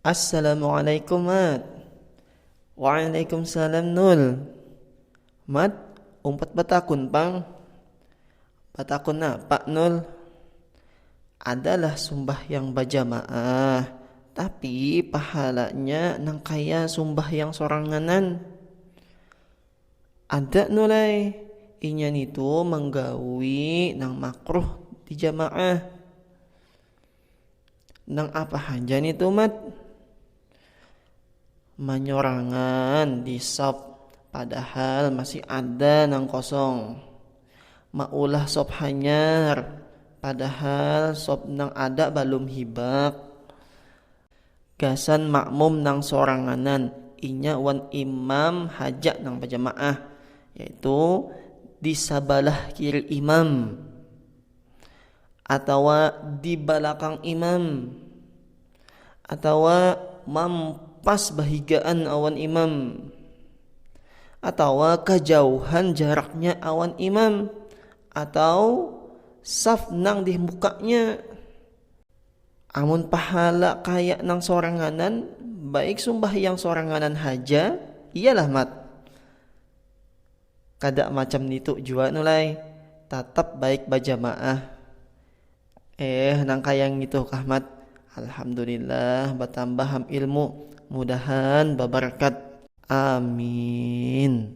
Assalamualaikum mat Waalaikumsalam nul Mat umpat batakun pang Batakun napa nul Adalah sumbahyang bajamaah Tapi pahalanya nang kaya sumbahyang soranganan. Ada no lai, inya nitu manggawi nang makruh di jamaah. Nang apa haja nitu mat? Manyorangan di sop, padahal masih ada nang kosong. Maulah sop hanyar, padahal sop nang ada balum hibak. Gasan makmum nang soranganan, inya wan imam haja nang bajamaah, yaitu di sabalah kiri imam atawa di balakang imam atawa mampas bahigaan awan imam atawa kajauhan jaraknya awan imam atau saf nang dimukanya. Amun pahala kaya nang soranganan, baik sumbahyang soranganan haja, iyalah mat. Kada macam nitu jua nu lai, tatap baik bajamaah. Eh nang kaya ngitu kah mat, alhamdulillah batambah am ilmu, mudahan babarkat. Aamiin.